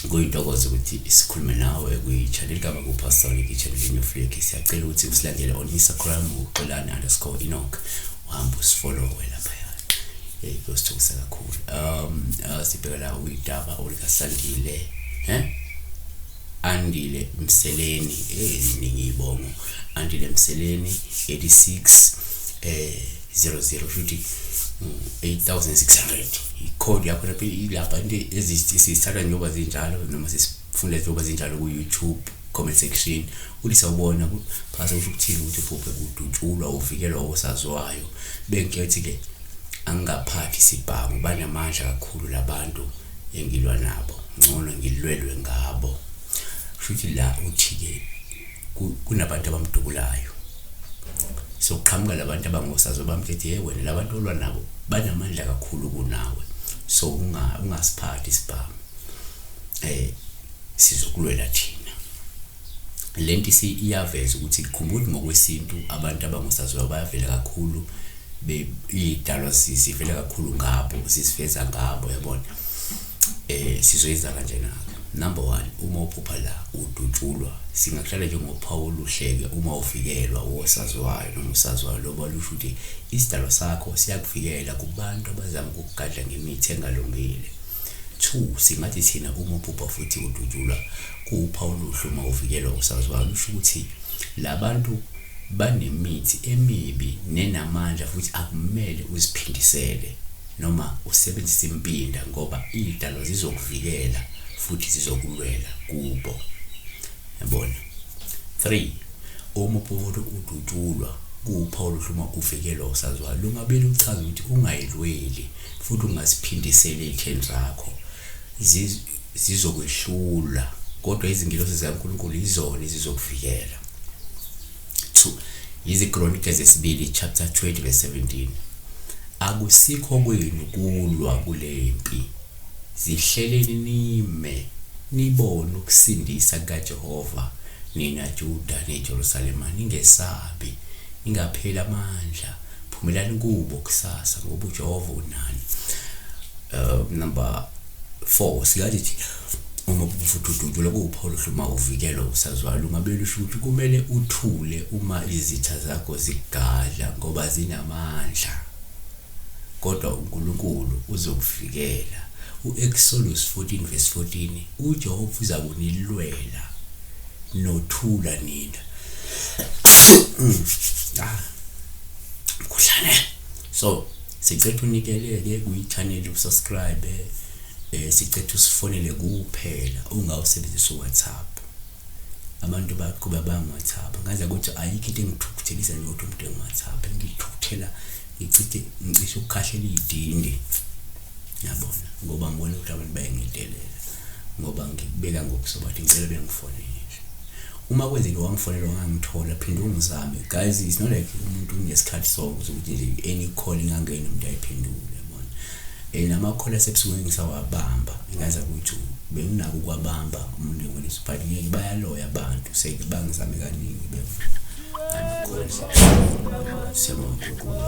kuyintokozo ukuthi sikhulume nawe kwi-channel ligama kupastor liki channel linyo flick siyacela ukuthi usilandele on instagram uxolani underscore inok uhambe usifollowe lapha hey kuyosithukusa kakhulu um uh, sibheka la uyidaba olikasandile he eh? Andile Mseleni eh iningi ibongo Andile Mseleni 86 eh 00 futhi 8600 icode yakho lapha ilapha into ezisithatha njengoba zinjalo noma sisifunda njengoba zinjalo ku YouTube comment section ulisa ubona phasa ukuthi ukuthini ukuthi ubhubhe kudutshulwa uvikelwa osaziwayo bengiyothi ke angaphathi sibhamu banamandla kakhulu labantu engilwa nabo ngcono ngilwelwe ngabo shuthi la uthi-ke kunabantu abamdubulayo so kuqhamuka labantu abangosazo bamthethe hey wena labantu olwa nabo banamandla kakhulu kunawe so ungasiphathi isibhamu eh sizokulwela thina Le nto iyaveza ukuthi khumbula ngokwesintu abantu abangosaziwayo bayavela kakhulu iy'dalwa zivela kakhulu ngabo ziziveza ngabo yabona eh sizoyenza kanjena-ke number one uma uphupha la udutshulwa singakuhlala njengophawu oluhleke uma uvikelwa wosaziwayo noma usaziwayo loba lusho ukuthi isidalwa sakho siyakuvikela kubantu abazama ukukugadla ngemithi engalungile two singathi thina uma uphupha futhi udutshulwa Kuwuphawu oluhle uma uvikelwa kusaziwayo, lusho ukuthi la bantu banemithi emibi nenamandla futhi akumele uziphindisele noma usebenzise impinda ngoba iy'dalwa zizokuvikela futhi zizokulwela kubo. Yabona? 3. Uma uPowulu udutshulwa, kuwuphawu oluhle uma uvikelwa usaziwayo, lungabe luchaza ukuthi ungayilweli futhi ungaziphindiseli ey'theni zakho. zizokwehlula kodwa izingilosi zikaNkulunkulu yizona ezizokuvikela 2 yizikronike zesibili chapter 20 verse 17 akusikho kwenu kulwa kule mpi zihleleni nime nibone ukusindisa kukaJehova nina Juda neJerusalema ningesabi ningapheli amandla phumelani kubo kusasa ngoba uJehova unani uh, number 4 siyazi ukuthi uma ubufudududu lokho uPaul hluma uvikelo usazwala ungabeli usho ukuthi kumele uthule uma izitha zakho zigadla ngoba zinamandla kodwa uNkulunkulu uzokuvikela uExodus 14 verse 14 uJehova uzakunilwela nothula nina ah mkhuhlane so sicetha unikeleke kuyi-channel usubscribe eh sicetha usifonele kuphela ungawusebenzisa uwhatsapp abantu baqhuba bangu-whatsapp ngaze ukuthi ayikho into engithukuthelisa njengokuthi umuntu engu-whatsapp ngithukuthela ngichithe ngicishe ukukhahlela iy'dindi yabona ngoba ngibona ukuthi abantu bayangidelela ngoba ngikubeka ngokusoba ukuthi ngicela bengifonele nje uma kwenzeke wangifonela wangangithola phinde ungizame guys it's not like umuntu unesikhathi sonke sokuthi nje any call ingangena umuntu ayiphendule yabona and ama-call asebusuku engisawabamba ngaza ukuthi benginako ukwabamba umuntu engolisa but ngeke bayaloya abantu seke bangizame kaningi bevula angikhonzi siyabonga unkulunkulu